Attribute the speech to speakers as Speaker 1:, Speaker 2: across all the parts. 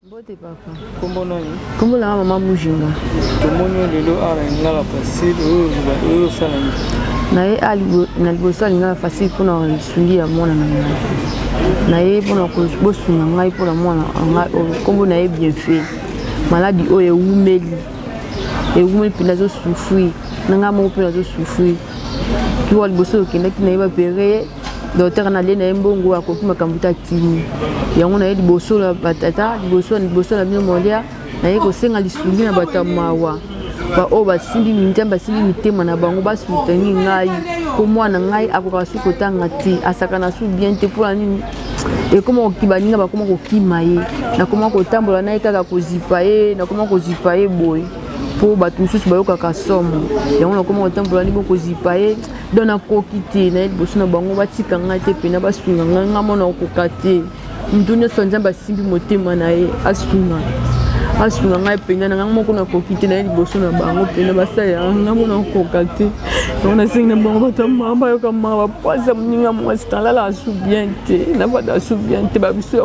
Speaker 1: Mbote papa. Kombo nani? Kombo na mama
Speaker 2: Mujinga. Tomoni yo lelo
Speaker 1: awa na lingala facile oyo oyo osala
Speaker 2: nini? Na ye na liboso ya lingala facile mpo na lisungi ya mwana na ngai. Na ye mpo na bosunga ngai mpo na mwana ngai oyo kombo na ye bien fait. Maladi oyo ewumeli ewumeli mpenza azosufri na ngai moko mpe nazosufri kiwa liboso okendaki na ye bapere ye dotere na lie na ye mbongo akoki makambo te akimi yango na ye liboso na batata liboso na bino molia na ye kosenga lisungi na bato ya mawa baoyo basimbi minzambe basimbi mitema na bango basutani ngai mpo mwana ngai akoka su kotanga te asakana su bien te mpona nini ekoma koki baninga bakoma kokima ye nakoma kotambola na ye kaka kozipa ye nakoma kozipa ye boye mpo bato mosusu bayokaka somo yango nakoma kotambola ni bokozipa ye don nakoki te naye liboso na bango batika ngai te mpena basunga ngai ngai mona okoka te moto nyonso ya nzambe asimbi motema na ye asunga asunga ngai mpena na ngai moko nakoki te naye liboso na bango mpena basalelaka ngai mona okoka te yango nasengi na bango bato mama bayoka mama bapwasa moninga mwasi nalala asu bien te nabada asu bien te babiso ya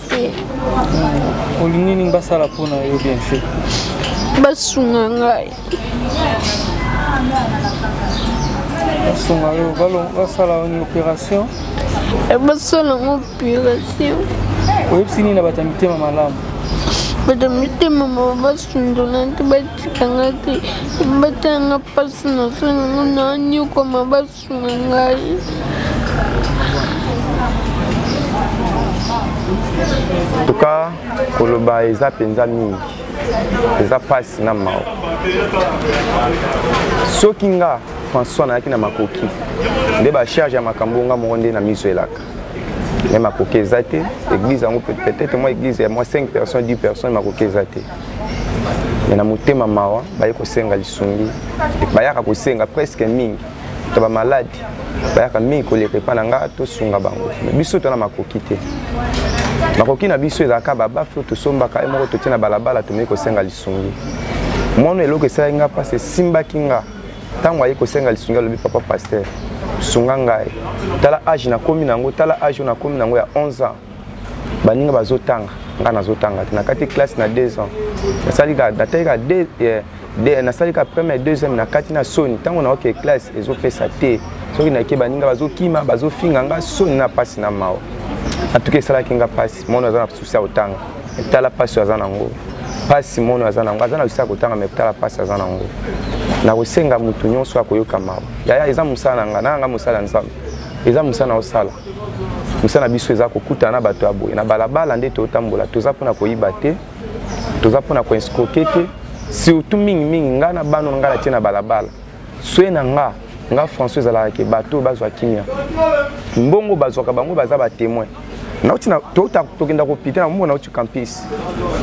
Speaker 1: olingi nini basala mpo na yo bien fait basunga
Speaker 3: ngai
Speaker 1: basunga yo basala une opération eh, basala
Speaker 3: ngo opération oyebisi
Speaker 1: nini na bato ya mitema malamu bato ya
Speaker 3: mitema mawa basundola te batikanga te batanga mpasi na sonango na niokwama Sunga ngai.
Speaker 4: En tout cas, koloba eza mpenza mingi eza mpasi na mawa soki nga françois nayaki na makoki nde bacharge ya makambo nga moko nde na miso elaka me makoki eza te église yango peut-être mwa église ya mwa 5 personnes 10 personnes makoki eza te me na motema mawa baye kosenga lisungi bayaka kosenga presque mingi to bamalade bayaka mingi koleka epai na ngai tosunga bango biso tona makoki te makoki na biso ezalaka babafe oyo tosombaka ye moko totie na balabala tomei kosenga lisungi mwana eloko esalaki ngai mpasi esimbaki ngai ntango aye kosenga lisungi alobi papa paster sunga ngai tala age nakomi na yango tala age oyo nakomi na yango ya 11 ans baninga bazotanga ngai nazotanga te nakati classe na deux ans nasalika natalika eh, nasalika première deuxième na kati na soni ntango naoke classe ezopesa te soki nayeke baninga bazokima bazofinga ngai soni na mpasi na mawa atuki esalaki ngai mpasi mono aza na susi ya kotanga etala mpasi oyo aza nango mpasi mono aza nango aza na susi ya kotanga me etala mpasi aza nango nakosenga motu nyonso akoyoka mawa yaya eza mosala na ngai nanga ngai mosala ya nzambe eza mosala na osala mosala na biso eza kokutana na bato ya boye na balabala nde totambola toza mpona koyiba te toza mpona koinskroke te surtout mingimingi ngai na bana ngai natie na balabala swe na nga nga françois ezalaka ke bato oyo bazwa kimia mbongo bazwaka bango baza batémoin nauti tokenda kopita na mona nauti campus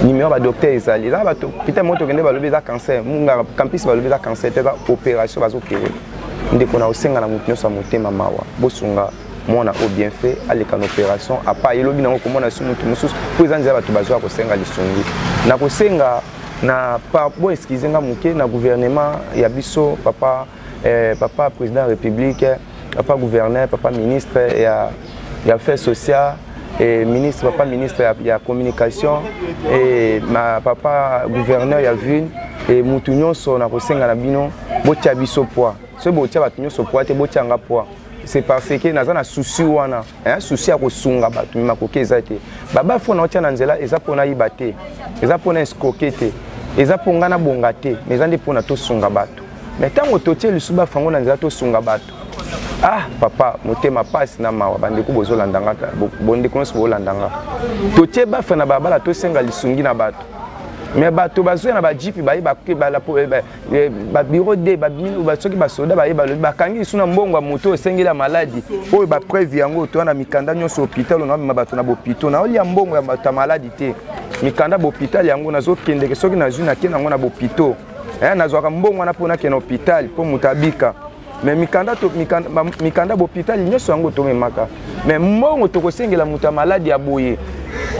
Speaker 4: nimero badocteur ezali eza bapita moko tokende balobi eza cancer mungaka campus balobi eza cancer te eza opération bazopere ndeko na osenga na moto nyonso ya motema mawa bosunga mwana oyo bien fait aleka na opération apa ye lobi nango komona su motu mosusu mpo eza nzela bato bazoya kosenga lisungi na kosenga na bo excuse nga moke na gouvernement ya biso papa eh, papa président ya république papa gouverneur papa ministre ya ya affaires sociales et ministre papa ministre ya, ya communication et ma papa gouverneur ya ville et mutu nyonso na kosenga na bino botia biso poids soki botia bato nyonso poids te botia nga poids c'est parce que naza na souci wana hein, souci ya kosunga bato makoki eza te baba fona otia na nzela eza mpo nayiba te eza mpo na escroke te eza mpo ngai nabonga te mais eza nde mpo na tosunga bato mais ntango totie lisusu bafango na nzela tosunga bato ah papa motema mpasi na mawa bandeko bozolanda nga bondeko nyonso boolanda nga totie bafe na balabala tosenga lisungi na bato me bato bazoya na bajipi baye babiro de soki basoda baye balobi bakangi lisu na mbongo ya moto oyo esengeli ya maladi oyo bapreuve yango toya na mikanda nyonso hôpital onamema bato na bopito naolia mbongo ya bato ya maladi te mikanda bopital yango nazokendeke soki nazwi nake nango na bopito eh, nazwaka mbongo wana mpo nakenda hôpital mpo moto abika me mikanda, to, mikanda, ba, mikanda bopitali nyonso yango tomemaka me mbongo tokosengela moto ya maladi ya boye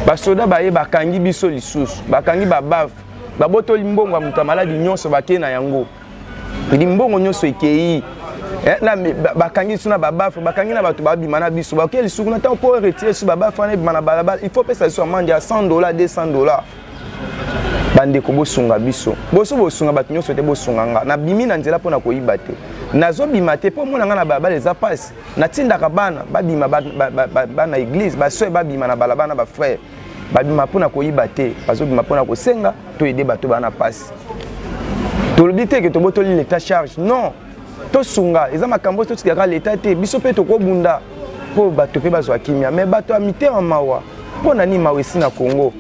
Speaker 4: basoda baye bakangi biso lisusu bakangi babave babotoli mbongo ya moto ya maladi nyonso bakei na yango edi mbongo nyonso ekei eh, na bakangi biso na babafe bakangi na bato babima na biso bakoki lisuku na ntango mpo retire biso babafe wana ebima na balabala il faut pesa biso amande ya 100 dollar 200 dollar bandeko bosunga biso boso bosunga bato nyonso te bosunga nga nabimi na nzela mpo na koyiba te nazobima te mpo mona nga na balabala eza mpasi natindaka bana babima bana eglise basoe babima na balabala na bafrere babima mpo na koyiba te bazobima mpo na kosenga to ede bato bana mpasi tolobi te ke tobotoli leta charge non tosunga eza makambo totikaka leta te biso mpe tokobunda mpo bato mpe bazwa kimia me bato ya mitema mawa mpo na nini mawa esi na congo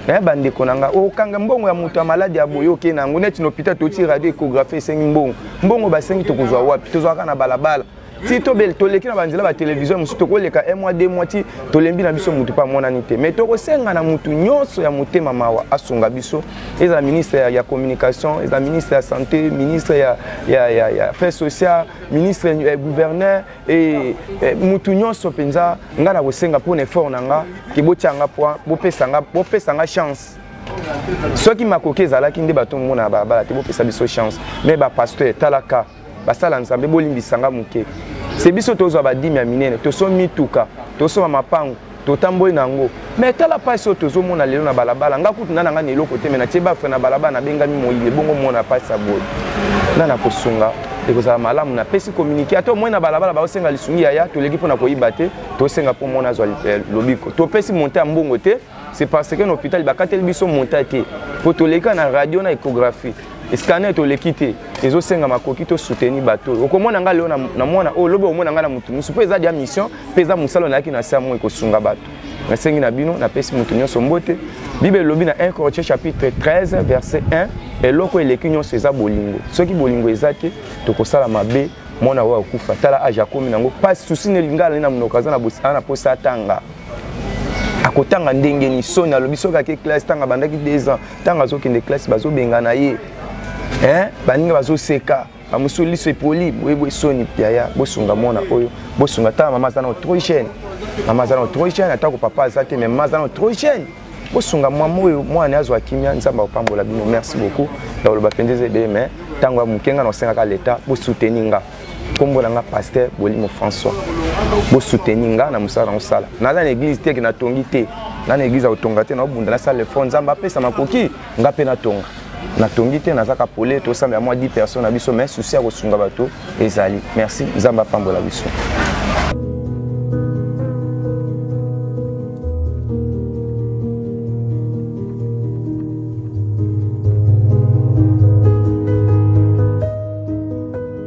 Speaker 4: eh, bandeko na ngai okanga mbongo ya moto ya maladi ya boye oke na yango neti na hôpital toti radio écographie esengi mbongo mbongo basengi tokozwa wapi tozwaka na balabala ti tobele toleki na banzela batelevizio mosusu tokoleka un mois deux mois ti tolembi na biso motu mpe amonani te mai tokosenga na motu nyonso ya motema mawa asunga biso ezala ministre ya, ya communication ezala ministre ya santé ministre ya, ya, ya, ya affaire sociale ministre ya eh, gouverneur e, e, motu nyonso mpenza ngai na kosenga mpo na effort na nga ke botya nga point bopesa nga, bopesa nga chance soki makoki ezalaki nde bato omona na balabala te bopesa biso chance mais bapasteur talaka basala nzambe bolimbisa nga moke se biso tozwa badimi ya minene toso mituka tosomba mapango totamboli na yango me tala mpasi oyo tozomona lelo na balabala nga kutu nda na ngai na eloko te me natie bafre na balabala nabengami moyile bongo mona mpasi ya boye nda na kosunga ekozala malamu napesi kominike ata omoi na balabala baosenga lisungi yaya toleki mpo na koyiba te tosenga mpo mona azwa eh, lobiko topesi monte ya mbongo te c'est parce que na hôpital bakateli biso monta te mpo toleka na radio na échographie scanner toleki te ezosenga makoki tosoutenir bato oyo okomona ngai lelo na mwana oyo lobi omona ngai na motu mosusu mpo eza dia mission mpe eza mosala nayaki na samo ekosunga bato nasengi na bino napesi moto nyonso mbote bible elobi na 1 corinthien chapitre 13 verset 1 eloko eleki nyonso eza bolingo soki bolingo eza te tokosala mabe mwana oyo akufa tala age akomi nango mpasi susi na elingala ne na monoko aza na mposa atanga akotanga ndenge ni soni alobi soki ake classe ntango abandaki 2 ans ntango azokende classe bazobengana ye baninga bazoseka bamosusu liso epoli boyeboye soni yaya bosunga mwana oyo bosunga tala mama aza nao trop jeune mama aza nao trop jeune atako papa aza te mais mama aza nao trop jeune bosunga mwama oyo mwana azwa kimia nzambe akopambola bino merci beaucoup ya koloba mpenza eza ebele mai ntango ya moke ngai naosengaka leta bosuteni nga nkombo na nga paster bolimo françois bosuteni nga na mosala na kosala naza na eglize te ke natongi te na na eglize ya kotonga te naobunda nasala efort nzambe apesa makoki nga mpe natonga natongi te naza ka pole tosambela mwa 10 personnes na biso mais souci ya kosunga bato ezali merci nzambe apambola biso